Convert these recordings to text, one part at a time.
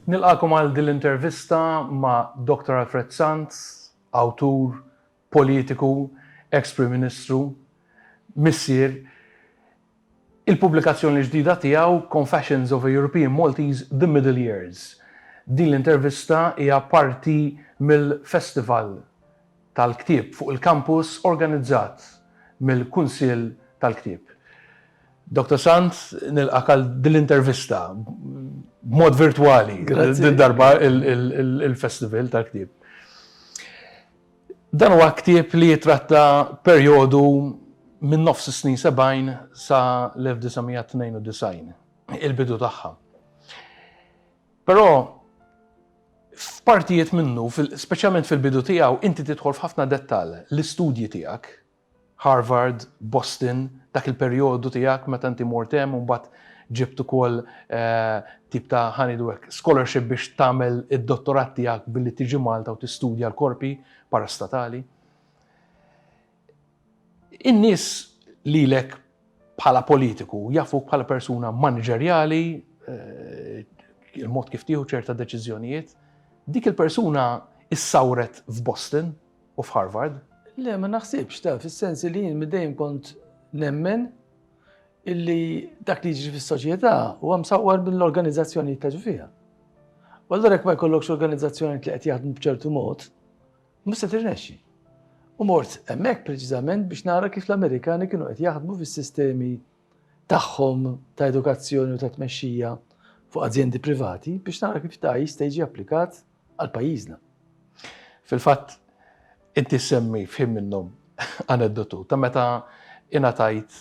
Nilqakom għal din l-intervista ma' Dr. Alfred Sant, awtur, politiku, ex Prim Ministru, missier. Il-pubblikazzjoni ġdida tiegħu Confessions of a European Maltese The Middle Years. Din l-intervista hija parti mill-Festival tal-ktieb fuq il-kampus organizzat mill-Kunsill tal-Ktieb. Dottor Sant, nilqgħek għal din l-intervista b'mod virtwali, din darba il-Festival tal-Ktieb. Dan huwa ktieb li jitratta perjodu minn nofs is-snin 70 sa l-1992, il-bidu tagħha. Però f'partijiet minnu, speċjalment fil-bidu tiegħu, inti tidħol f'ħafna dettall, l-istudji tiegħek, Harvard, Boston, dak il-perjodu tiegħek meta inti mort hemm u mbagħad ġibt ukoll tip ta' ħanidulek scholarship biex tagħmel id-dottorat tiegħek billi tiġi Malta u tistudja l-korpi parastatali. In-nies lilek bħala politiku jafuk bħala persuna maniġerjali, eh, il-mod kif tieħu ċerta deċiżjonijiet. Dik il-persuna issawret f'Boston u f'Harvard. Le, ma naħsibx ta' fis-sens li jien dejjem kont nemmen illi dak li jiġri fis-soċjetà huwa msawwar mill-organizzazzjonijiet ta' ġifiha. U allura jekk ma jkollokx organizzazzjonijiet li qed jaħdmu b'ċertu mod, Mhux se tirnexxi. U mort hemmhekk preċiżament biex nara kif l-Amerikani kienu qed jaħdmu fis-sistemi tagħhom ta' edukazzjoni u ta' tmexxija fuq azjendi privati biex nara kif ta' jista' jiġi applikat għal pajjiżna. Fil-fatt, inti ssemmi f'ħin minnhom aneddotu ta' meta ingħatajt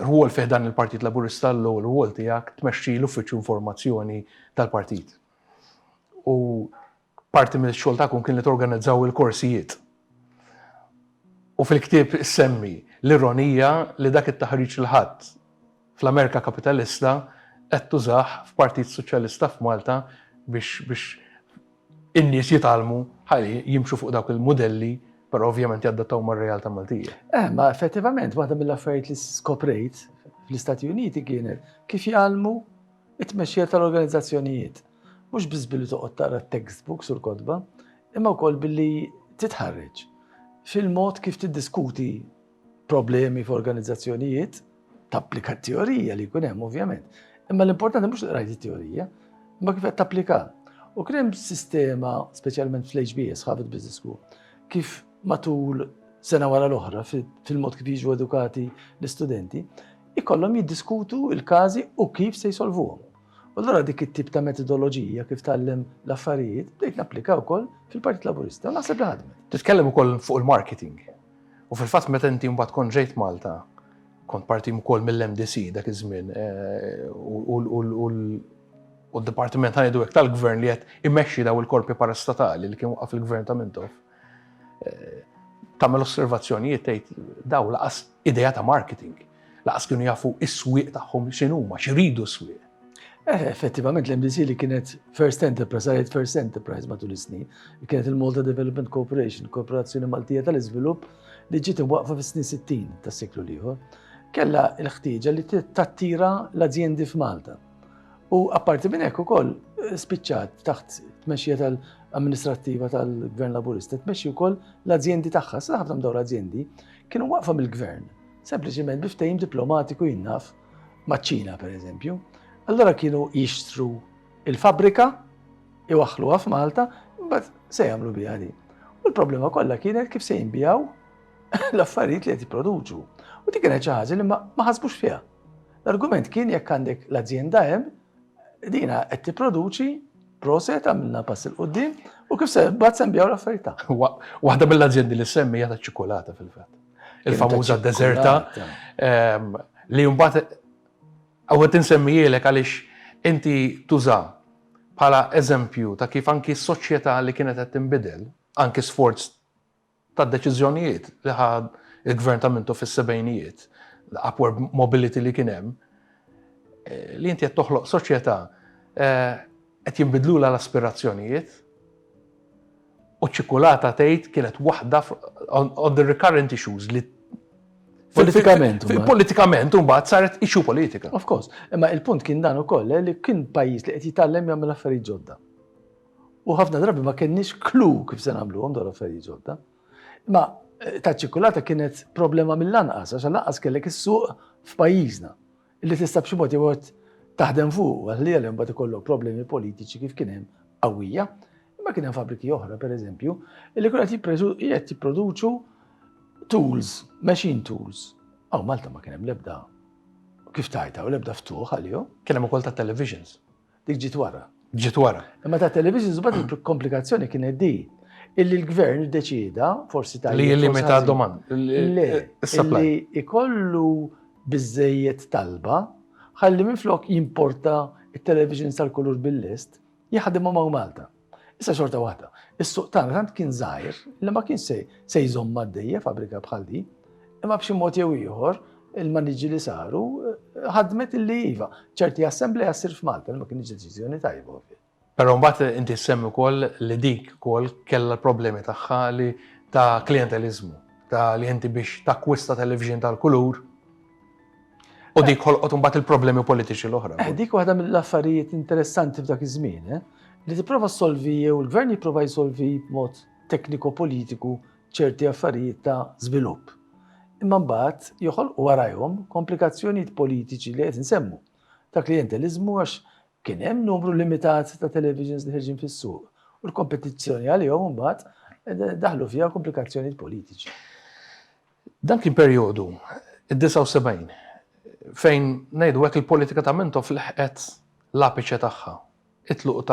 rwol fi ħdan il-Partit Laburista l-ewwel rwol tiegħek tmexxi l-Uffiċċju Informazzjoni tal-Partit. U Parti mill-xogħol tagħkom kien li torganizzaw il-korsijiet. U fil-ktieb issemmi l-ironija li dak it-taħriġ li ħadt fl-Amerika kapitalista qed tużah f'Partit Soċjalista f'Malta biex in-nies jitgħallmu ħalli jimxu fuq dawk il-mudelli però ovvjament jaddattaw mar-realtà Maltija. Eh, ma effettivament waħda mill-affarijiet li skoprejt fl-Istati Uniti kienet kif jgħallmu It-tmexxija tal-organizzazzjonijiet, mhux biss billi toqgħod taqra t-textbooks u l-kotba, imma wkoll billi titħarreġ fil-mod kif tiddiskuti problemi f'organizzazzjonijiet, tapplika t-teorija li jkun hemm ovvjament, imma l-importanti mhux li qrajt it-teorija, imma kif qed tapplika. U kien hemm sistema, speċjalment fl-HBS, Harvard Business School, kif matul sena wara l-oħra fil-mod kif jiġu edukati l-istudenti, ikollhom jiddiskutu l-każi u kif se jsolvuhom. U allura dik it-tip ta' metodoloġija kif tgħallem l-affarijiet bdejt napplika wkoll fil-Partit Laburista u naħseb li ħadmet. Titkellem ukoll fuq il-marketing. U fil-fatt meta inti mbagħad kont ġejt Malta, kont parti wkoll mill-MDC dak iż-żmien u d-dipartiment tal-Gvern li qed imexxi dawn il-korpi parastatali li kien waqqaf il-Gvern ta' Mintoff. tagħmel osservazzjonijiet tgħid daw laqas idea ta' marketing, laqas kienu jafu is-swieq tagħhom x'inhuma, x'iridu s-swieq. Eh, effettivament l-MDC li kienet First Enterprise, għalet First Enterprise matul is-snin, kienet il-Malta Development Corporation, Korporazzjoni Maltija tal-Iżvilupp, li ġiet imwaqfa fis-snin 60 tas-seklu liħor, kella l-ħtieġa li tattira l-azjendi f'Malta. U apparti minn hekk ukoll spiċċat taħt tmexxija tal-amministrattiva tal-Gvern Laburista, tmexxi wkoll l-azjendi tagħha, sa ħafna dawn l-azjendi kienu waqfa mill-Gvern, sempliċiment biftejn diplomatiku jinnaf maċ-Ċina pereżempju. Allora kienu jixtru il-fabrika, iwaħħluha f'Malta, imbagħad se jagħmlu biha din. U l-problema kollha kienet kif se jinbijaw l-affarijiet li qed jipproduċu. U dik kienet xi ħaġa li ma ħasbux fiha. L-argument kien jekk għandek l-azjenda hemm, dina qed tipproduċi proset għamilna pass il quddiem u kif se mbagħad se nbigħu l-affarijiet tagħna. Waħda mill-azjendi li semmi hija taċ-ċikkulata fil-fatt. Il-famuża deżerta ehm, li mbagħad għawet insemmijilek għaliex inti tuża bħala eżempju ta' kif anki s-soċjetà li kienet qed tinbidel, anki sforz tad-deċiżjonijiet li ħa l-Gvern ta' Mintoff fis-sebgħinijiet, l-upward mobility li kien hemm, li inti qed toħloq soċjetà qed jinbidlulha l-aspirazzjonijiet u ċ-ċikkulata tgħid kienet waħda on the recurrent issues li Politikament. Politikament, un bat, saret issue politika. Of course. Imma il-punt kien dan ukoll eh, li kien pajjiż li qed jitgħallem jagħmel affarijiet ġodda. u ħafna drabi ma kenniex klu kif se nagħmluhom dawn l-affarijiet ġodda. Imma eh, ta' ċikulata kienet problema mill-anqas, għax lanqas kellek is-suq f'pajjiżna li tista' b'xi mod jew taħdem fuq, għal li għalem bat ikollok problemi politiċi kif kien hemm qawwija. Imma kien hemm fabriki oħra, per eżempju, li kien qed jipproduċu tools, machine tools. Aw Malta ma kien hemm lebda kif tajta u lebda ftuħ għalihom. Kien hemm ukoll ta' televisions. Dik ġiet wara. Ġiet wara. Imma ta' televisions bad il-komplikazzjoni kienet di illi l-gvern deċida forsi ta' li jillimita domanda. Le, li ikollu biżejjed talba ħalli minflok jimporta il-television sal-kulur bil-list jaħdimhom hawn Malta. Issa xorta waħda, is-suq tagħna tant kien żgħir li ma kienx se se jżomm għaddejja fabrika bħal din, imma b'xi mod jew ieħor il-maniġi li saru ħadmet illi iva, ċerti assembleja ssir f'Malta li ma kienx deċiżjoni tajba. Però mbagħad inti semmi wkoll li dik ukoll kellha l-problemi tagħha li ta' klientelizmu, ta' li inti biex takkwista television tal-kulur U dik ħolqot imbagħad il-problemi politiċi l-oħra. Eh, dik waħda mill-affarijiet interessanti f'dak iż-żmien, eh? li tipprova solvi jew il-gvern jipprova jsolvi b'mod tekniko-politiku ċerti affarijiet ta' żvilupp. Imma mbagħad joħolqu warajhom komplikazzjonijiet politiċi li qed insemmu. Ta' klientelizmu għax kien hemm numru limitat ta' televisions li ħerġin fis-suq u l-kompetizzjoni għalihom mbagħad eh, daħlu fiha komplikazzjonijiet politiċi. Dan kien perjodu, id-79, fejn, ngħidu hekk, il-politika ta' Mintoff leħqet l-apiċe tagħha. It-tluq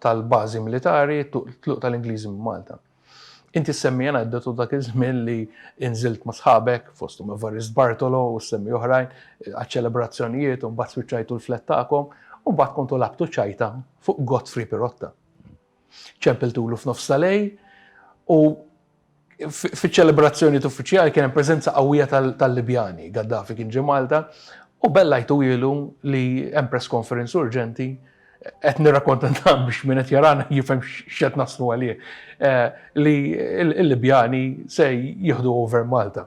tal-bażi militari, it-tluq tal-Ingliżi minn Malta. Inti ssemmi aneddotu dak iż-żmien li inżilt ma' sħabek, fosthom Evarist Bartolo u ssemmi oħrajn, għaċ-ċelebrazzjonijiet u mbagħad spiċċajtu l-flat tagħkom u mbagħad kontu lagħbtu ċajta fuq Godfrey Pirotta. ċempiltulu f'nofs ta' lejl u fiċ-ċelebrazzjonijiet uffiċjali kien hemm preżenza qawwija tal-Libjani, Gaddafi kien ġie Malta u bellajtu ilu li hemm press conference urġenti qed nirrakkonta dan biex min qed jarana jifhem x'qed naslu għalih eh, li l-Libjani se jieħdu over Malta.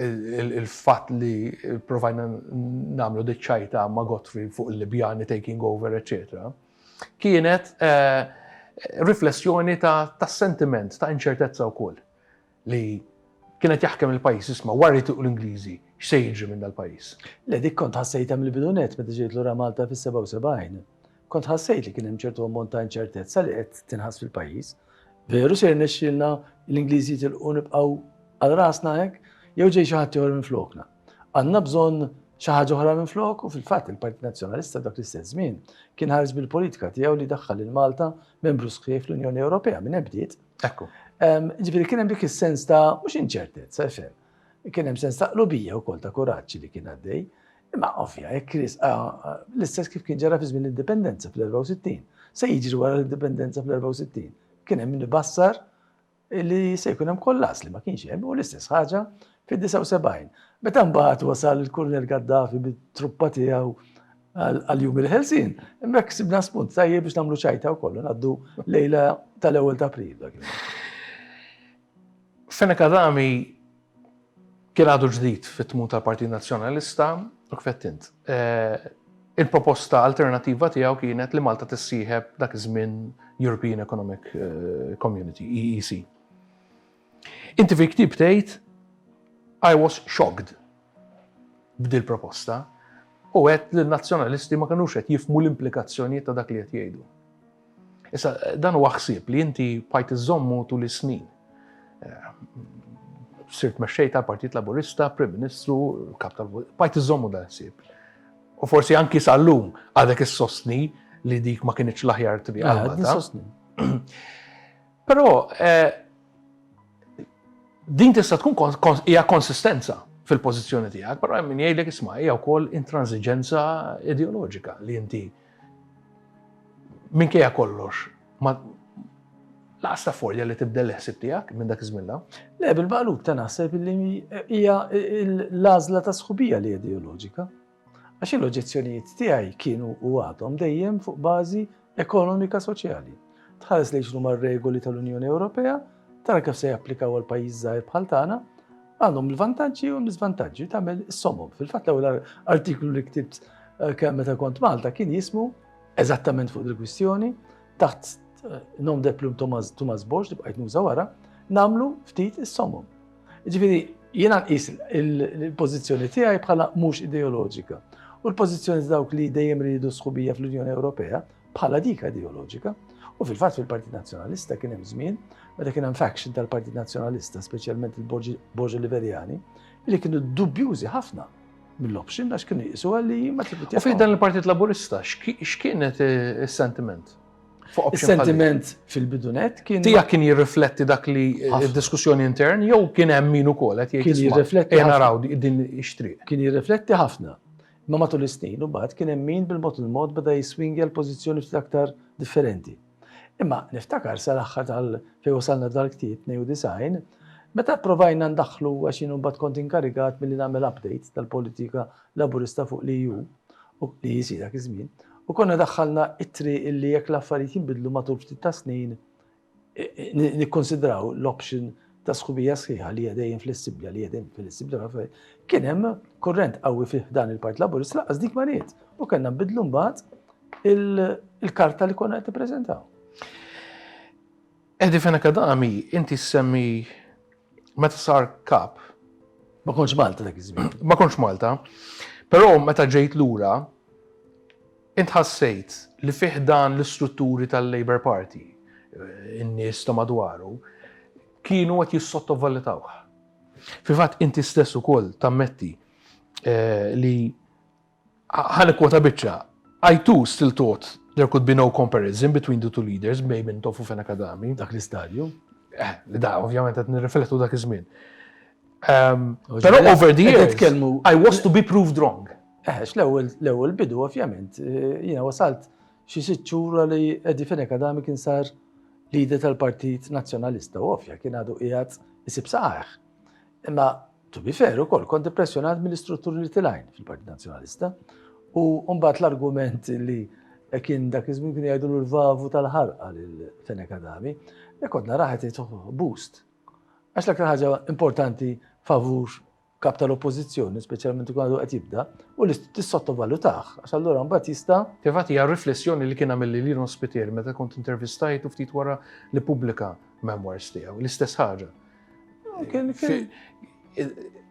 il-fatt li provajna nagħmlu dik ċajta ma' Godfrey fuq il-Libjani taking over eċċetera, kienet riflessjoni tas-sentiment ta' inċertezza wkoll li kien qed jaħkem il-pajjiż, isma' wara li jitilqu l-Ingliżi x'se jiġri minn dal-pajjiż. Le dik kont ħassejtha mill-bidu nett meta ġejt lura Malta fis-77. Kont ħassejt li kien hemm ċertu ammont ta' inċertezza li qed tinħass fil-pajjiż. Veru se jirnexxilna l-Ingliżi jitilqu nibqgħu għal rasna hekk jew ġej xi ħadd ieħor minn flokna. Għandna bżonn xi ħaġa oħra minn flok u fil-fatt il-Partit Nazzjonalista dak l-istess żmien kien ħares bil-politika tiegħu li daħħal lil Malta membru sħiħ fl-Unjoni Ewropea minn ebdiet. Ekku. Ġifieri kien hemm dik is-sens ta' mhux inċertezza xejn. Kien hemm sens ta' qlubija wkoll ta' kuraġġ li kien għaddej. Imma ovvja, jekk risqa l-istess kif kien ġara fi żmien l-Indipendenza fl-64, se jiġri wara l-Indipendenza fl-64. Kien hemm min ibassar li se jkun hemm kollas li ma kienx hemm u l-istess ħaġa fid-79. Meta mbagħad wasal il-Kurnel Gaddafi bit-truppa tiegħu għal-jum il-ħelsin, mek sibna spunt tajjeb biex namlu ċajta u kollu naddu lejla tal-ewel ta' april. Fena Kadami Kien għadu ġdid fit-tmun tal-Partit Nazzjonalista u kif għedt int, il-proposta alternattiva tiegħu kienet li Malta tissieħeb dak iż-żmien European Economic Community, EEC. Inti fil-ktieb tgħid, I was shocked b'dil-proposta u għedt li n-Nazzjonalisti ma kinux qed jifhmu l-implikazzjonijiet ta' dak li qed jgħidu. Issa, dan huwa ħsieb li inti pajt iżommu tul is-snin. Eh, sirt mexxej tal-Partit Laburista, Prim Ministru, kap tal pajt iżommu dan ħsieb. U forsi anki sal-lum għadek is-sostni li dik ma kienieċ l-aħjar triq ah, għal Però eh, din tista' tkun hija konsistenza fil-pożizzjoni tiegħek, però hemm min jgħidlek isma' hija wkoll intransiġenza ideoloġika li inti Minkejja kollox, laqas ta' folja li tibdel il-ħsieb tiegħek minn dak iż-żmien la. Le, bil-maqlub ta' naħseb li hija l-għażla ta' sħubija li ideoloġika. Għax l-oġġezzjonijiet tiegħi kienu u għadhom dejjem fuq bażi ekonomika soċjali. tħares lejn x'inhuma r-regoli tal-Unjoni Ewropea, tara kif se japplikaw għal pajjiż żgħir bħal tagħna, għandhom il-vantaġġi u l-iżvantaġġi tagħmel is-somom. Fil-fatt l-ewwel artiklu li ktibt eh, kemm meta kont Malta kien jismu eżattament fuq il-kwistjoni taħt eh, nom de plum Thomas, Thomas Bosch li bqajt nuża wara, namlu ftit is-somom. Ġifieri Jiena nqis il-pożizzjoni tiegħi bħala mhux ideoloġika. U l-pożizzjoni dawk li dejjem ridu sħubija fl-Unjoni Ewropea bħala dik ideoloġika, u fil-fatt fil-Partit Nazzjonalista kien hemm żmien meta kien hemm faction tal-Partit Nazzjonalista, speċjalment il-Borġi Liberjani, li kienu dubjużi ħafna mill-option għax kienu jisu għalli ma tibit. U dan il-Partit Laburista, x'kienet eh, is-sentiment? Is-sentiment fil-bidunet kien. Tija kien jirrifletti dak li eh, diskussjoni intern jew kien hemm min ukoll qed jgħid. Kien jirrifletti. Kien naraw din ix-triq. Kien jirrifletti ħafna. Imma matul is-snin imbagħad kien hemm min bil-mod il-mod beda jiswingja l-pożizzjoni ftit aktar differenti. Imma niftakar sal-aħħar tal fejn wasalna dal-ktieb, 92, meta pprovajna ndaħħlu għax jien imbagħad kont inkarigat milli nagħmel update tal-politika Laburista fuq l-EU, u l-EEC dak iż-żmien, u konna daħħalna ittri illi jekk l-affarijiet jinbidlu matul ftit tas-snin nikkonsidraw l-option ta' sħubija sħiħa li hija dejjem flessibbli, li hija dejjem flessibbli ħafna. Kien hemm kurrent qawwi fih dan il-Partit Laburist laqas dik ma ried u kellna nbidlu mbagħad il-karta li konna qed nippreżentaw. Edi fejn akadami, inti semmi meta sar kap. Ma konċ Malta dak iż-żmien. Ma konċ Malta. Però meta ġejt lura, Int ħassejt li fi ħdan l-istrutturi tal-Labour Party, in-nies ta' madwaru, kienu qed jissottovalutawh? Fil-fatt inti stess ukoll tammetti li, ħa nikkwota biċċa, I too still thought there could be no comparison between the two leaders, Bej Mintoff u Fenech Adami. Dak l-istadju. Eh, da, ovvjament qed nirriflettu dak iż-żmien. Però over the years, I was to be proved wrong. Eħex, l-ewwel bidu ovvjament, jiena wasalt xi sitt xhur li Eddie Fenech Adami kien sar leader tal-Partit Nazzjonalista u ovvja kien għadu qiegħed isib saqajh. Imma to be fair ukoll kont impressjonat mill-istrutturi li tilajn fil-Partit Nazzjonalista u mbagħad l-argument li kien dak iż-żmien kien jgħidu l-vavu tal-ħarqa lil Fenech Adami, li kont naraħet boost. Għax l-aktar ħaġa importanti favur Kap tal-Oppożizzjoni, speċjalment ikun għadu qed jibda, u li tissottovalutah, għax allura mbagħad jista'. Fil-fatt hija r-riflessjoni li kien għamilli Lino Spiteri meta kont intervistajtu ftit wara li pubblika memoirs tiegħu, l-istess ħaġa.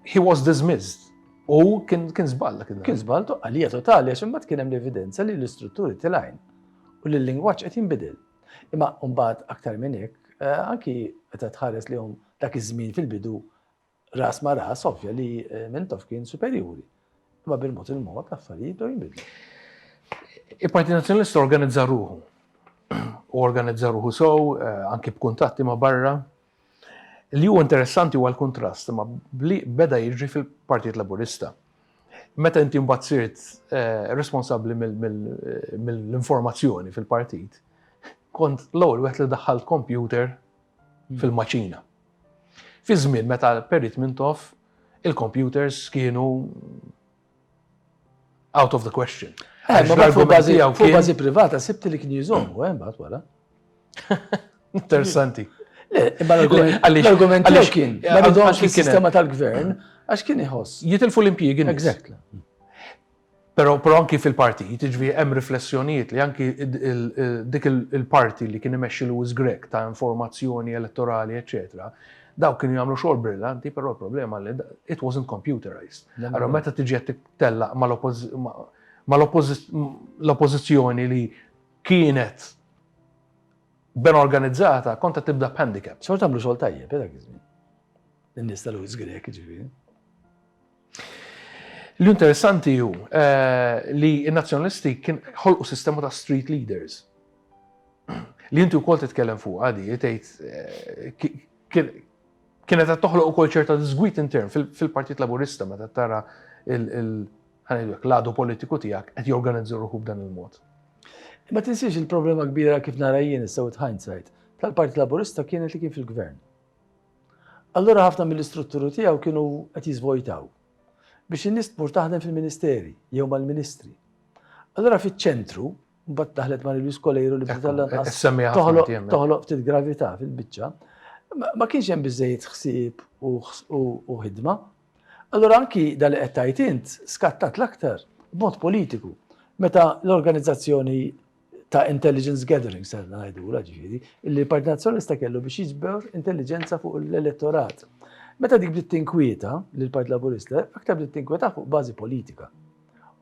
He was dismissed. U kien żball dak il-ħin. Kien żball għalija totali għax imbagħad kien hemm l-evidenza li l-istrutturi tilgħin u li l-lingwaġġ qed jinbidel. Imma mbagħad aktar minn hekk, anki meta tħares lihom dak iż-żmien fil-bidu Ras ma' ras, ovvja li Mintoff kien superjuri, imma bil-mod il-mod l-affarijiet bdew jinbidlu. Il-Partit Nazzjonalista organizza ruħu u organizza ruħu sew anki b'kuntatti ma' barra. Li hu interessanti huwa l-kuntrast imma b'li beda jiġri fil-Partit Laburista. Meta inti mbagħad sirt responsabbli mill-informazzjoni fil-partit, kont l-ewwel wieħed li daħħalt kompjuter fil-maċina. Fi żmien meta l-Perit Mintoff il-kompjuters kienu out of the question. Eh, ma bat fuq bażi fuq bażi privata sibti li kien jżommu, eh, mbagħad wara. Interessanti. Le, imma l-argument għaliex kien, ma nidhomx is-sistema tal-gvern għax kien iħoss. Jitilfu l-impjiegi. Exactly. Però però anki fil-partit, jiġifieri hemm riflessjonijiet li anki dik il-parti li kien imexxi Louis Grech ta' informazzjoni elettorali eċċetera, dawk kienu jagħmlu xogħol brillanti però l-problema li it wasn't computerized. Allura meta tiġi qed tittellaq ma' l-oppożizzjoni li kienet ben organizzata kont qed tibda b'handicap. Xorta għamlu xogħol tajjeb dak iż-żmien. In-nies ta' Louis Grech jiġifieri. L-interessanti hu li n-Nazzjonalisti ħolqu sistema ta' street leaders li inti wkoll titkellem fuq għadi, tgħid kienet qed toħloq ukoll ċerta disgwid intern fil-Partit Laburista meta tara l-għadu politiku tiegħek qed jorganizza ruħu b'dan il-mod. Ma tinsiex il-problema kbira kif nara jien issa with hindsight, tal-Partit Laburista kienet li kien fil-Gvern. Allura ħafna mill-istrutturi tiegħu kienu qed jiżvojtaw biex in-nies tmur taħdem fil-ministeri jew mal-ministri. Allura fiċ-ċentru, mbagħad daħlet Mari Louise Colejru li bdiet lanqas toħloq ftit gravità fil-biċċa, ma kienx hemm biżejjed ħsieb u ħidma. Allura anki dal qed tgħid int skattat l-aktar b'mod politiku meta l-organizzazzjoni ta' intelligence gathering, ser ngħidu la ġifieri, li l-Partit Nazzjonalista kellu biex jiġber intelligenza fuq l-elettorat. Meta dik bdiet tinkwieta li l-Partit Laburista, aktar bdiet tinkwieta fuq bażi politika.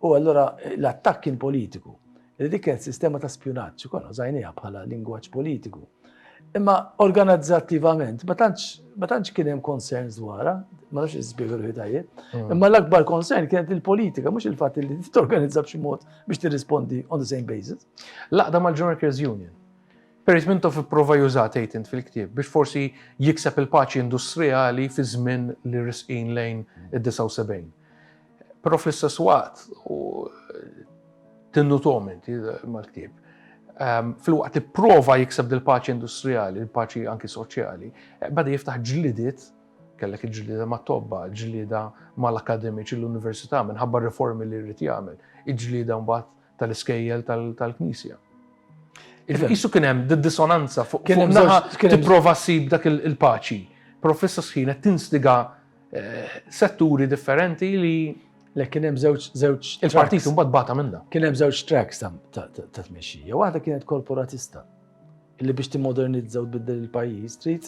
U allura l-attakk kien politiku. Li dik kienet sistema ta' spjunaġġ, konna żajnija bħala lingwaġġ politiku. Imma organizzattivament ma tantx kien hemm concerns dwarha, ma nafx iżbiegħu l-ħidajje. Mm. Imma l-akbar concern kienet il-politika, mhux il-fatt li t-organizza b'xi mod Biex tirrispondi on the same basis, l-għaqda mal-General Cares Union. Perit Mintoff ipprova juża tgħid int fil-ktieb biex forsi jikseb il-paċi industrijali fi żmien li risqin lejn id-79. Però fl-istess waqt tinnutom inti mal-ktieb. Ehm, fil-waqt ipprova jikseb dil-paċi industrijali, il-paċi anki soċjali, bada jiftaħ ġlidiet Kellek il-ġlieda mat-tobba, il-ġlieda mal-akkademiċi l-università minħabba r-riformi li jrid jagħmel, il-ġlieda mbagħad tal-iskejjel tal-Knisja. Isu kien hemm dissonanza fuq kien tipprova ssib dak il-paċi. Però fissa sħina tinstiga eh, setturi differenti li Le kien hemm żewġ żewġ il-partit imbagħad bata minna. Kien hemm żewġ tracks ta' tmexxija. Waħda kienet korporatista. Illi biex timmodernizzaw tbiddel il-pajjiż trid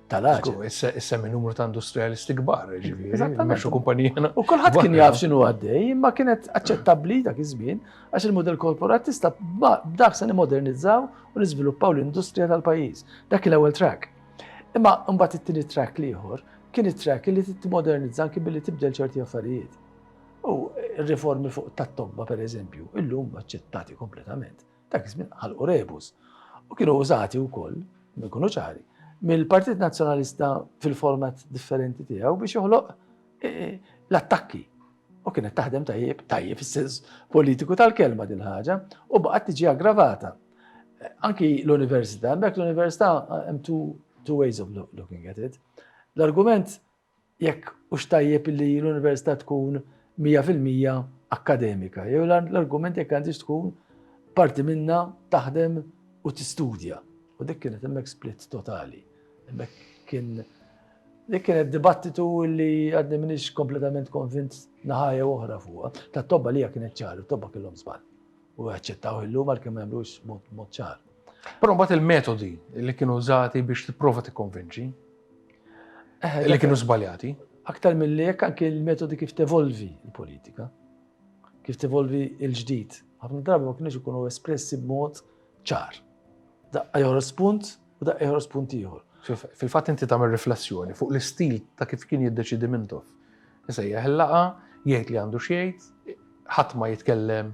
tal-aċu. Issa minn numru ta' industrijalisti kbar, ġifieri. Eżattament. kumpanijana. U kulħadd kien jaf x'inhu għaddej, imma kienet aċċettabbli dak iż-żmien għax il-mudell korporatista b'dak se nimodernizzaw u niżviluppaw l-industrija tal-pajjiż. Dak l-ewwel track. Imma mbagħad it-tieni track l-ieħor kien it-track li timmodernizza anki billi tibdel ċerti affarijiet. U riformi fuq tat-tobba pereżempju, illum aċċettati kompletament. Dak iż-żmien ħalqu rebus u kienu użati wkoll, inkunu ċari, mill-Partit Nazzjonalista fil-format differenti tiegħu biex joħloq l-attakki. U kienet taħdem tajjeb, tajjeb fis-sens politiku tal-kelma din ħaġa, u baqgħet tiġi aggravata. Anki l-Università, hemmhekk l-Università hemm two ways of looking at it. L-argument jekk hux tajjeb li l-università tkun mija fil-mija akkademika, jew l-argument jekk għandhiex tkun parti minnha taħdem u tistudja. U dik kienet hemmhekk split totali. Hemmhekk kien dik kienet dibattitu li għadni minix kompletament konvint naħaja oħra fuqha. Ta' tobba li kienet ċaru, tobba kellhom żball. u jaċċettaw illum għalkemm ma jagħmlux mod ċar. Però mbagħad il-metodi li kienu użati biex tipprova tikkonvinċi eh, li kienu żbaljati. Aktar mill hekk anke l-metodi kif tevolvi l-politika, kif tevolvi l-ġdid. Ħafna drabi ma kienx ikunu espressi b'mod ċar. Daqqa joħros punt, U daqqa joħroġ spunt ieħor. Fil-fatt inti tagħmel riflessjoni fuq l-istil ta' kif kien jiddeċidi Mintoff. Isejjaħ il-laqa, jgħid li għandu x'jgħid, ħadd ma jitkellem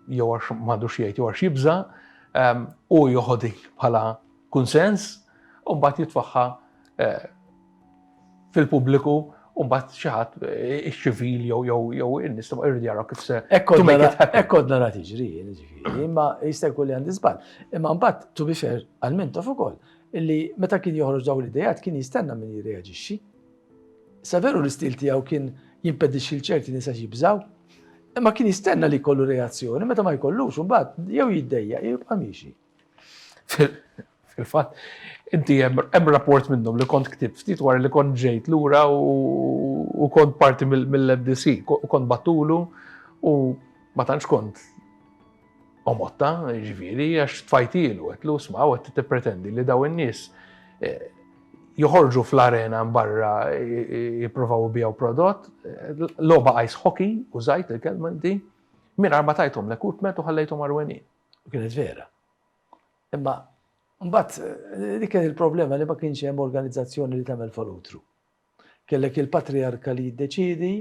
jew għax m'għandu x'jgħid jew għax jibża, ehm, u joħodi bħala kunsens, u mbagħad jitfaħħa eh, fil-pubbliku u mbagħad xi ħadd iċ-ċivil jew jew jew in-nies tibqa' jridu jaraw kif se. Hekk kont nara tiġri, imma jista' jkun li għandi żball. Imma mbagħad tu bifer għal mintof ukoll illi meta kien joħroġ dawn l-idejat kien jistenna min jirreaġixxi. Saveru l-istil tiegħu kien jimpedixxi l-ċerti nisa jibżaw, imma kien jistenna li jkollu reazzjoni meta ma jkollux imbagħad jew jiddejja jew jibqa' miexi. Fil-fatt, inti hemm rapport minnhom li kont ktib ftit wara li kont ġejt lura u kont parti mill-MDC, kont battulu u ma tantx kont omotta, ġifieri, għax tfajtilu, għetlu sma' u qed tippretendi li daw in-nies eh, joħorġu fl-arena barra jipprovaw bijaw prodott, loba ice hockey, u zajt il-kelma di, minn arba tajtom l-ekutmet u ħallejtom arwenin. U kienet vera. Imma mbagħad eh, dik kien il-problema li ma kienx hemm organizzazzjoni li tagħmel falutru. Kellek il-patriarka li jiddeċidi,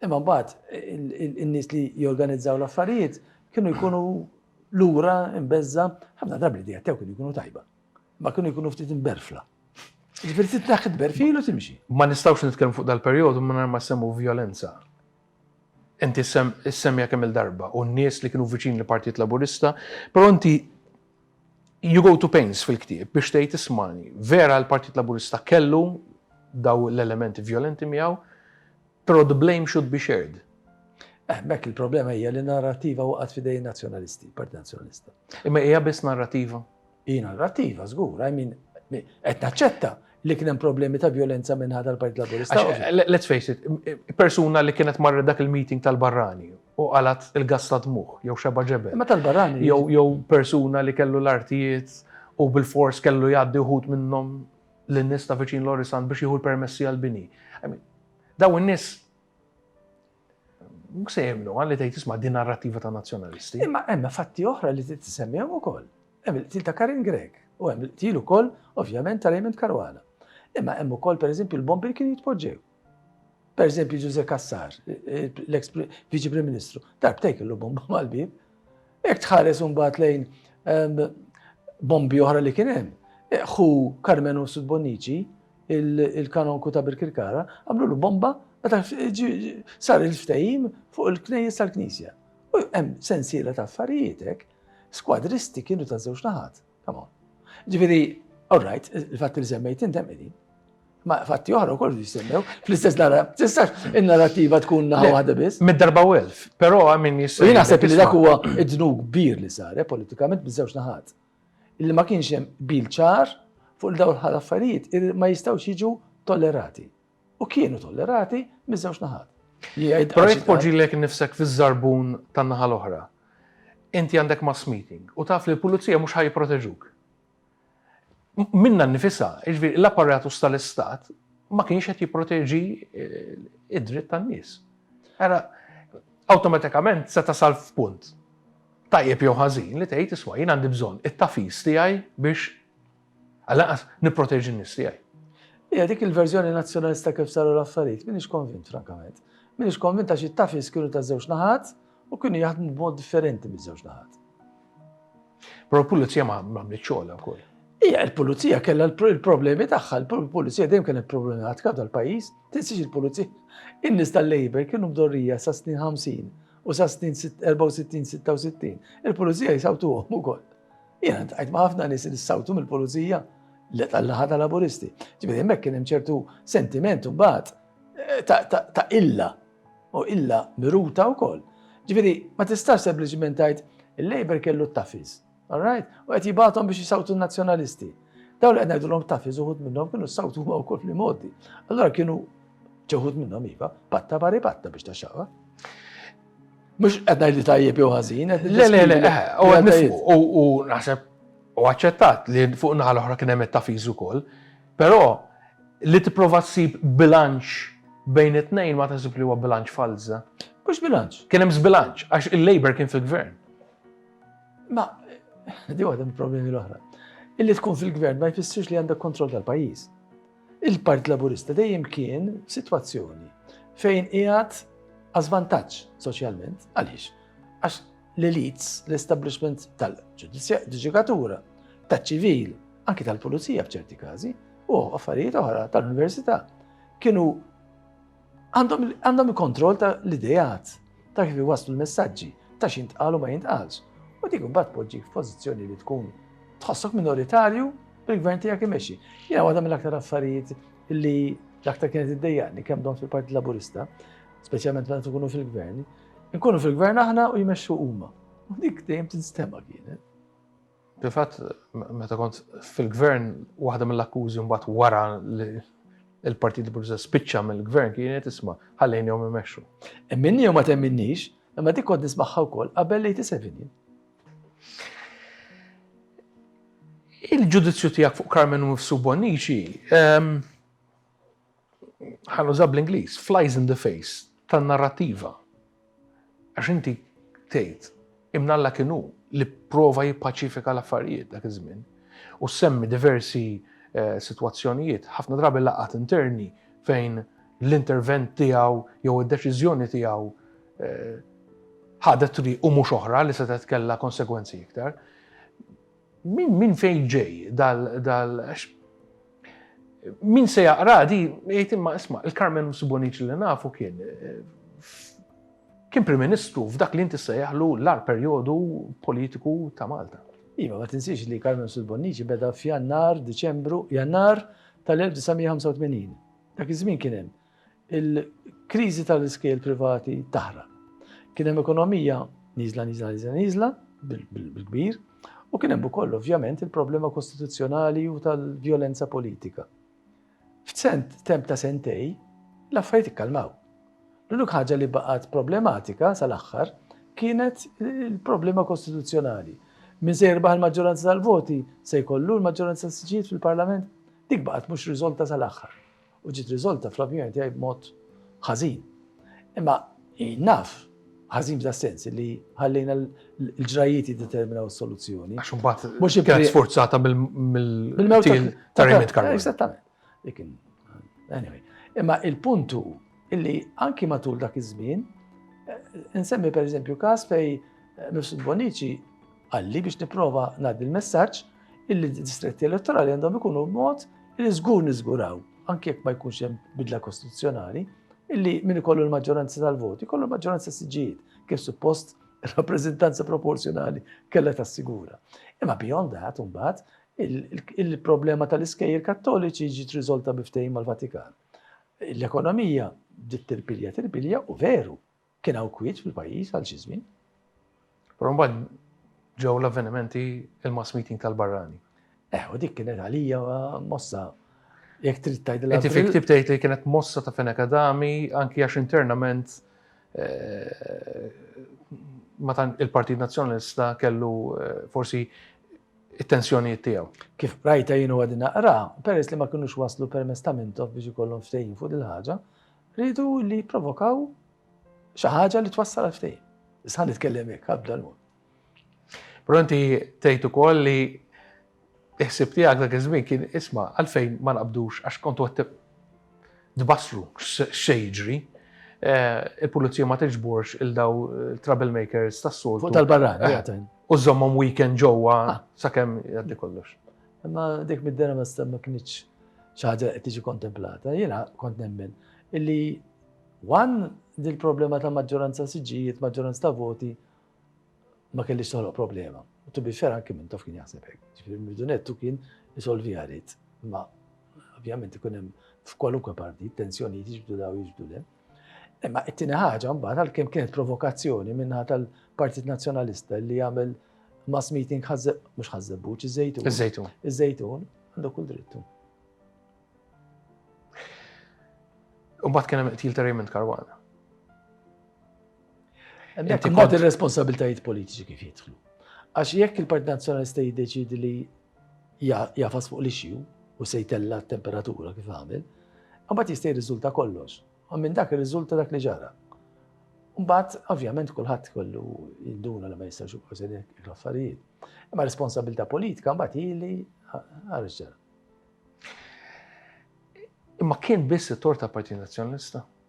imma mbagħad in-nies li jorganizzaw l-affarijiet kienu jkunu lura imbeżża ħafna drabi li jattew kienu jkunu tajba. Ma kienu jkunu ftit imberfla. Ġifieri titlaħ tberfilu timxi. Ma nistgħux nitkellmu fuq dal-perjodu minn ma semmu violenza. Inti issemmija kemm-il darba u n-nies li kienu viċin il-Partit Laburista, però inti you go to pains fil-ktieb biex tgħid ismagħni, vera l-Partit Laburista kellu daw l-elementi vjolenti miegħu, però the blame should be shared. Eh, bekk il-problema hija li narrativa waqgħet f'idejn nazzjonalisti, Partit Nazzjonalista. Imma hija biss narrativa? Hi narrattiva żgur, I mean, qed naċċetta li kien hemm problemi ta' violenza minħa tal-Partit Laburista. Let's face it, persuna li kienet marret dak il-meeting tal-barrani u qalat il-gas ta' dmuħ, jew xeba ġebel. Ma tal-barrani. Jew persuna li kellu l-artijiet u bil-fors kellu jgħaddi uħud minnhom l-nies ta' viċin Lorisan biex jieħu l-permessi għal-bini. Daw in-nies Mhux se jemnu għalli tgħid isma' din narrattiva ta' nazzjonalisti. Imma hemm fatti oħra li tisemmi hemm ukoll. Hemm il-qtil ta' Karin Grek u hemm il-qtil ukoll ovvjament ta' Raymond Caruana. Imma hemm ukoll pereżempju l-bombi li kienu jitpoġġew. Pereżempju Ġuże Kassar, l-eks Viċi Prim Ministru, darbtej kellu bomba mal-bib Jekk tħares imbagħad lejn bombi oħra li kien hemm, ħu Karmenu Sudbonnici, il-kanonku ta' Birkirkara, għamlulu bomba meta sar il-ftehim fuq il-knejjes tal-Knisja. U hemm sensiela ta' affarijiet hekk, skwadristi kienu ta' żewġ naħat. Come on. Ġifieri, all right, il-fatt li semmejt intem qegħdin. Ma fatti oħra wkoll jisemmew fl-istess nara. Tistax in-narrativa tkun naħa waħda biss. Mid-darba u elf, però min jista'. Jien naħseb li dak huwa id-dnub kbir li sar eh, politikament biżewġ naħat. Illi ma kienx hemm bil ċar fuq il-dawl ħal affarijiet ma jistgħux jiġu tollerati. u kienu tollerati miż-żewġ naħat. Però jekk tpoġġilek innifsek fiż-żarbun tan-naħa l-oħra, inti għandek mass meeting u taf li l-pulizija mhux ħa jipproteġuk. Minna nnifisha, jiġifieri l-apparatus tal-Istat ma kienx qed jipproteġi eh, id-dritt tan-nies. Era awtomatikament se tasal f'punt tajjeb jew ħażin li tgħid isma' jien għandi bżonn it-tafis tiegħi biex Għal lanqas nipproteġi n-nies tiegħi. Hija dik il-verżjoni nazzjonalista kif saru l-affarijiet, m'iniex konvint frankament. M'iniex konvint għax it-tafis kienu ta' żewġ naħat u kienu jaħdmu b'mod differenti miż-żewġ naħat. Però l-pulizija ma għamlet xogħolha wkoll. Hija l-pulizija kellha l-problemi tagħha, l-pulizija dejjem kienet problemi għad tal-pajjiż, tinsiex il-pulizija. In-nies tal-Labor kienu mdorrija sa snin 50 u sa snin 64-66. Il-pulizija jisawtuhom ukoll. Jena tajt ma' ħafna nis li sawtu mill-pulizija li tal-laħa ta' laburisti. Ġibidi jemmek kien ċertu sentiment u bat eh, ta' illa u illa miruta u koll. Ġibidi ma tistax sempliciment tajt il-Labor kellu t-tafiz. Alright? U għet jibatom biex jisawtu nazjonalisti. Daw li għedna l-om tafiz uħut minnom kienu s-sawtu ma' u koll li modi. Allora kienu ċeħut minnom iva, patta bari patta biex ta' xaqa. Mux qed ngħid li tajjeb jew ħażin. Le, le, le, u naħseb u aċċettat li fuq naħa l-oħra kien hemm it-tafiż ukoll, però li tipprova ssib bilanċ bejn it-tnejn ma taħsib li huwa bilanċ falza. Mhux bilanċ. Kien hemm bilanċ għax il-Labor kien fil-gvern. Ma, di għadem problemi l-oħra. Illi tkun fil-gvern ma jfissirx li għandek kontroll tal-pajjiż. Il-Partit Laburista dejjem kien f'sitwazzjoni fejn qiegħed għal żvantaġġ soċjalment. Għaliex? Għax l-elites, l-establishment tal-ġudikatura, taċ-ċivil, anki tal-pulizija f'ċerti każi, u affarijiet oħra tal-università kienu Għandhom il-kontroll ta' l-ideat, ta' kif iwasslu l-messaġġi, ta' x'jintqal u ma jintqalx, u dik imbagħad tpoġġik f'pożizzjoni li tkun tħossok minoritarju bil-gvern tiegħek imexxi. Jiena waħda mill-aktar affarijiet li l-aktar kienet iddejjaqni kemm domt fil-Partit Laburista, speċjalment meta tkunu fil-gvern, nkunu fil-gvern aħna u jmexxu huma. U dik dejjem tinstema' kienet. Fil-fatt, meta kont fil-gvern, waħda mill-akkużi mbagħad wara li l-Partit Laburista spiċċa mill-gvern kienet isma' ħallejnihom imexxu. Temminni jew ma temminniex, imma dik kont nismagħha wkoll qabel l-87 jien. Il-ġudizzju tiegħek fuq Carmen Mifsu Bonnici ehm, ħa nuża bl-Ingliż, flies in the face tan-narrattiva. Għax inti tgħid imnalla kien hu li prova jippaċifika l-affarijiet dak iż-żmien u semmi diversi eh, sitwazzjonijiet, ħafna drabi laqat interni fejn l-intervent tiegħu jew id-deċiżjoni tiegħu eh, ħadet triq u mhux oħra li setgħet kellha konsegwenzi iktar. Minn minn fejn ġej dal dal għax min se jaqraha di jgħid imma isma' il-Karmen Msib Bonnici li nafu kien kien Prim Ministru f'dak li inti ssejjaħlu l-agħar perjodu politiku ta' Malta. Iva, ma tinsiex li Karmen Msib Bonnici beda f'Jannar, Diċembru, Jannar tal-1985. Dak iż-żmien kien hemm Il-kriżi tal-iskejjel privati taħraq. Kien hemm ekonomija niżla niżla niżla niżla bil-kbir u kien hemm ukoll ovvjament il-problema kostituzzjonali u tal-vjolenza politika. F'sent temp ta' sentej l-affarijiet ikkalmaw. L-unik ħaġa li baqgħet problematika sal-aħħar kienet il-problema kostituzzjonali. Min se jirbaħ il-maġġoranza tal-voti se jkollu l-maġġoranza tal-siġijiet fil-Parlament? Dik baqgħet mhux riżolta sal-aħħar. u ġiet riżolta fl-opinjoni tiegħi b'mod ħażin. Imma naf ħażin f'da sens li ħallejna l-ġrajiet jiddeterminaw is-soluzzjoni. Għax imbagħad mhux kienet sforzata mill-mewtil ta' Remit Karol. Eżattament. Anyway, imma il-puntu illi anki matul dak iż-żmien, eh, nsemmi per eżempju każ fej eh, Mifsud Bonici Qalli biex nipprova ngħaddi l-messaġġ illi d-distretti elettorali għandhom ikunu b'mod li żgur niżguraw, anke jekk ma jkunx hemm bidla kostituzzjonali, illi min ikollu l-maġġoranza tal-voti, kollu l-maġġoranza siġijiet, kif suppost rappreżentanza proporzjonali kellha tassigura. Imma beyond that, imbagħad, il-problema tal-iskejjer kattoliċi ġiet riżolta biftejn mal-Vatikan. L-ekonomija ġiet tirpilja tirpilja u veru, Kien hawn kwiet fil-pajjiż għal xi żmien. Però mbagħad ġew l-avvenimenti il-mass meeting tal-barrani. Eh, u dik kienet għalija mossa jekk trid tgħidilha. Inti fik tib tgħid li kienet mossa ta' fena kadami anki għax internament eh, ma tan il-Partit Nazzjonalista kellu eh, forsi it-tensjonijiet tiegħu. Kif rajta jienu għadin naqra, peress li ma kinux waslu permess ta' mintof biex ikollhom ftehim fuq il-ħaġa, Riedu li jipprovokaw xi ħaġa li twassal għal ftehim. Issa nitkellem hekk ħabda l-mod. Però inti tgħid ukoll li iħsib tiegħek dak iż-żmien kien isma' għalfejn ma naqbdux għax kontu qed tbassru xejġri. Eh, il-pulizija ma tiġborx il-daw eh, troublemakers tas-sol. Fuq tal-barran, eh, u żommhom weekend ġewwa ah. sakemm jgħaddi kollox. Imma dik mid-dera ma stemma kienx xi ħaġa qed tiġi kontemplata. Jiena kont nemmen illi wan dil problema ta' maġġoranza siġġijiet, maġġoranza ta' voti ma kellix toħloq problema. U tu biex xera anki minn taf kien jaħseb hekk. Ġifieri mill-dunettu kien isolvi għarid. Imma ovvjament ikun hemm f'kwalunkwe partit tensjonijiet jiġbdu daw jiġbdu le. Imma it-tieni ħaġa mbagħad għalkemm kienet provokazzjoni minnaħa tal-Partit Nazzjonalista li jagħmel mass meeting ħażeb mhux ħażebbuċ iż-żejtun. Iż-żejtun. Iż-żejtun għandu kull drittu. Umbat kien hemm qtil ta' Raymond Karwana. Inti kont ir-responsabiltajiet politiċi kif jidħlu. Għax jekk il-Partit Nazzjonalista jiddeċidi li jagħfas fuq l-ixju u se jtella' t-temperatura kif għamel, imbagħad jista' jirriżulta kollox. U minn dak irriżulta dak li ġara. Mbagħad, ovvjament, kulħadd kollu jinduna li ma jistax jibqgħu se l-affarijiet. Imma responsabilità politika mbagħad ili għal ġara. Imma kien biss it-tor tal-Partit Nazzjonalista?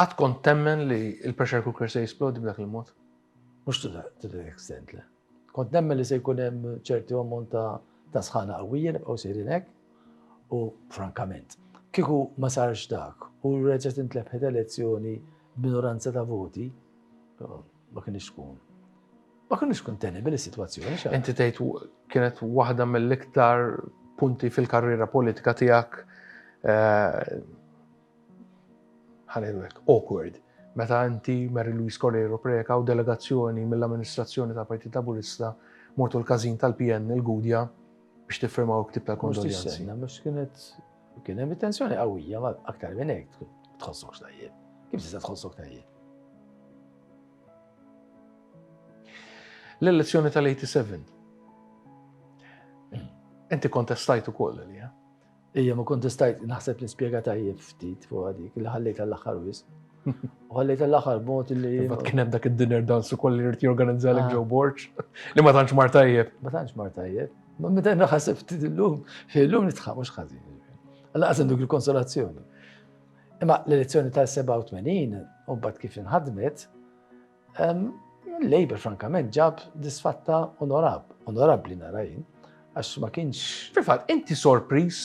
Qatt kont temmen li l-pressure cooker se jisplodi b'dak il-mod? Mhux to that extent, le. Kont nemmen li se jkun hemm ċertu ammont ta' sħana qawwija li bqgħu sejrin hekk u frankament, kieku ma sarx dak u reġgħet intlebħet elezzjoni b'minoranza ta' voti, ma kinitx tkun ma kinitx tkun tenable is-sitwazzjoni. Inti tgħid kienet waħda mill-iktar punti fil-karriera politika tiegħek Ħa ngħidu hekk, awkward, meta inti, Mary Louise Correiro Preca u delegazzjoni mill-amministrazzjoni tal-Partit Laburista mortu l-każin tal-PN il-Gudja biex tiffirmaw il-ktieb tal-kondoljanzi. Mhux tistenna, mhux kienet kien hemm tensjoni qawwija ma aktar minn hekk tħossokx tajjeb. Kif tista' tħossok tajjeb? L-elezzjoni tal-87. Inti kontestajt ukoll li Ija, ma kontestajt, naħseb li spiega tajjeb ftit fuq għadik, li ħallejt għall-axar wis. U ħallejt għall-axar bot li. Bat kien hemm dak id-dinner dance u kolli rrit jorganizza l ġew ah. borċ, li ma tantx mar tajjeb. Ma tantx mar tajjeb. Ma meta naħseb ftit illum, illum nitħaq mhux ħażin. Alla qasem dik il-konsolazzjoni. Imma l-elezzjoni tal-87 u bat kif inħadmet, Labour frankament ġab disfatta onorab, onorabli narajin, għax ma kienx. Fil-fatt, inti sorpriż,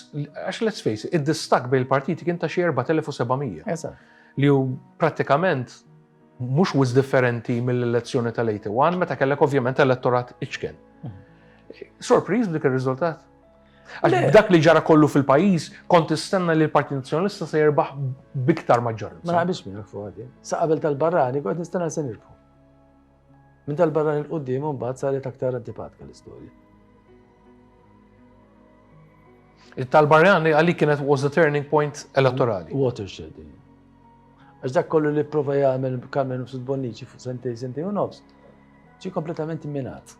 għax let's face it, id-distak bejn il-partiti kien ta' xi 4700. Eżatt. Li hu prattikament mhux wis differenti mill-elezzjoni tal-81 meta kellek ovvjament elettorat iċken. Mhm. Sorpriż b'dik ir-riżultat? Għax dak li ġara kollu fil-pajjiż kont istenna li l-Partit Nazzjonalista se jirbaħ biktar maġġoranza. Ma naqbilx miegħek fuq għadi. Sa qabel tal-barrani kont nistenna se nirbħu. Minn tal-barrani l-qudiem mbagħad saret aktar antipatka l-istorja. It-tal-barrani għalik kienet was the turning point elettorali. Watershed. Għax dak kollu li prova jagħmel Carmen Nufsud Bonnici fuq sentej sentej u nofs, ġi kompletament minat.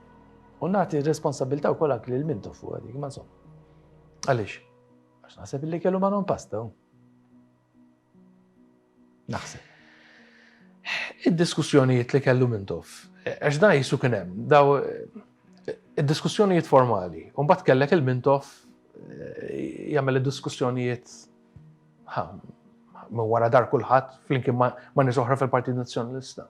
U nagħti responsabilità wkoll anke lil mintu fuq dik, ma insomma. Għaliex? Għax naħseb illi kellu ma non pasta. Naħseb. Id-diskussjonijiet li kellu mintof, għax da jisu kien hemm, daw id-diskussjonijiet formali, u mbagħad kellek il-mintof eh, jagħmel id-diskussjonijiet ma wara dar kulħadd flimkien ma nisoħra fil-Partit Nazzjonalista.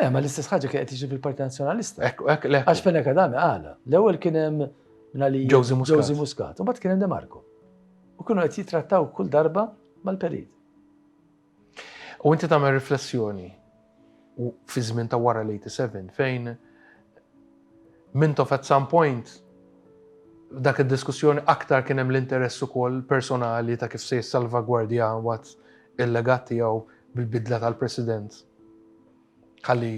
Eh, ma l-istess ħaġa kien qed jiġi fil-Partit Nazzjonalista. Ekk, ekk, le. Għax fejn hekk għadami għala. L-ewwel kien hemm nali Josie Muscat. Josie Muscat, u mbagħad kien hemm Demarco. U kienu qed jitrattaw kull darba mal-perit. U inti tagħmel riflessjoni fi żmien ta' wara l-87 fejn Mintoff at some point f'dak id-diskussjoni aktar kien hemm l-interess ukoll personali ta' kif se jissalvagwardja mbagħad il-legat tiegħu bil-bidla tal-President ħalli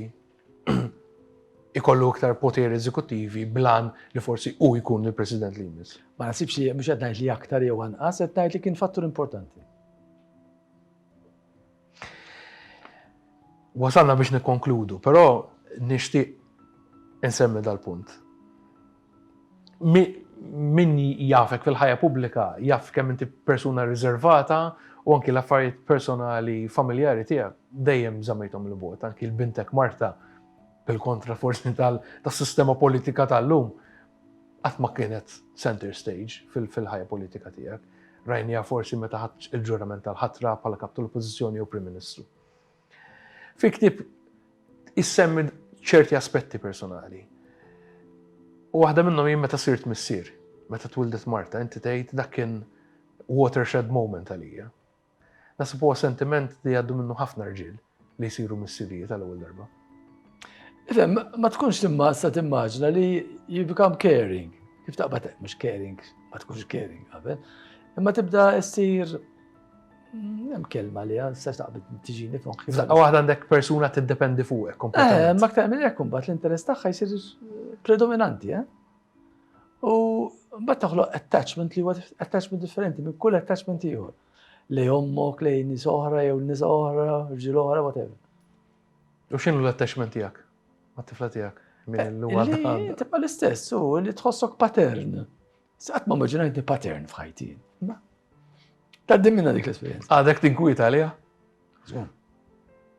ikollu iktar poteri eżekuttivi bl-għan li forsi hu jkun il-President li jmiss. Ma nasibx li mhux qed ngħid li aktar jew anqas, qed ngħid li kien fattur importanti. Wasalna biex nikkonkludu, però nixtieq insemmi dal-punt. Min jafek fil-ħajja pubblika jaf kemm inti persuna riservata u anki l-affarijiet personali familjari tiegħek dejjem żammejthom il-bogħod, anki l-bintek Marta bil-kontra forsi tas-sistema politika tal-lum qatt ma kienet center stage fil-ħajja politika tiegħek. Rajniha forsi meta ħadt il-ġurament tal-ħatra bħala kap tal-Oppożizzjoni jew Prim Ministru. Fi ktieb issemmi ċerti aspetti personali. U waħda minnhom jien meta sirt missier, meta twildet Marta, inti tgħid dak kien watershed moment għalija. Naħseb huwa sentiment li jgħaddu minnu ħafna rġiel li jsiru missirijiet għal ewwel darba. Ifhem, ma tkunx timma sa timmaġna li you become caring. Kif taqbad mhux caring, ma tkunx caring qabel. Imma tibda ssir mm, hemm kelma li għan sa taqbad tiġini fuq. Daqqa waħda għandek persuna tiddependi fuqek. Eh, ma ktar minn hekk imbagħad l-interess tagħha jsir predominanti, eh? U mbagħad toħloq attachment li huwa attachment differenti minn kull attachment ieħor. Lej ommok, lej nies oħra, jew nies oħra, ġil oħra, whatever. U x'inhu l-attachment tiegħek? Mat-tifla tiegħek? Minn l eh, Tibqa' l-istess, u li tħossok pattern. Saqt ma maġinajtni pattern f'ħajti. Ta' dimmina dik l-esperienza. Għadek tinkwita għalija? Zgun.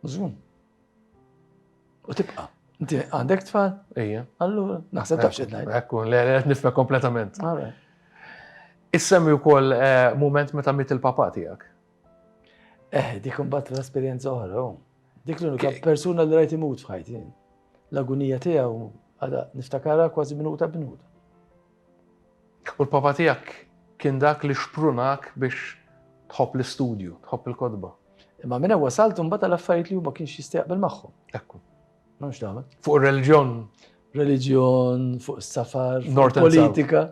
Zgun. U tibqa. Inti għandek tfal? Ejja. Allura, naħseb ta' xed ngħid. Ekkun, le, qed nifhem kompletament. Issemmi wkoll eh, mument meta mit il-papa tiegħek. Eh, dik imbagħad l-esperjenza oħra. Oh. Dik l-unika persuna li rajt imut f'ħajti. L-agunija tiegħu għada niftakara kważi minuta b'minuta. U l-Papa tiegħek kien dak li xprunak biex tħobb l-istudju, tħobb il-kotba. Imma minn hemm wasalt imbagħad għal affarijiet li hu ma kienx jista' jaqbel magħhom. Ekku. M'hemm x'tagħmel. Fuq ir-reliġjon. Reliġjon, fuq is-safar, fuq il-politika.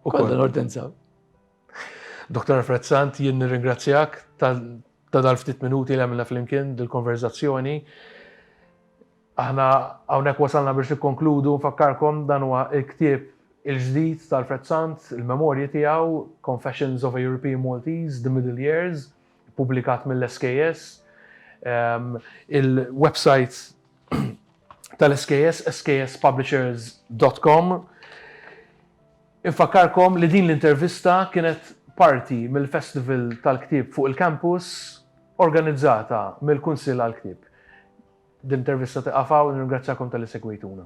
Ukoll. Kollha North and South. Dottor Alfred Sant, jien nirringrazzjak ta' dal-ftit minuti li għamilna flimkien dil-konverzazzjoni. Aħna hawnhekk wasalna biex nikkonkludu nfakkarkom dan huwa l-ktieb il-ġdid ta' Alfred Sant, il-memorji tiegħu, Confessions of a European Maltese, The Middle Years, ippubblikat mill-SKS. Il-website tal-SKS, skspublishers.com. Infakkarkom li din l-intervista kienet parti mill-Festival tal-Ktieb fuq il-Campus organizzata mill-Kunsill għall-Ktieb. Din l-intervista tieqaf hawn, nirringrazzjakom talli segwejtuna.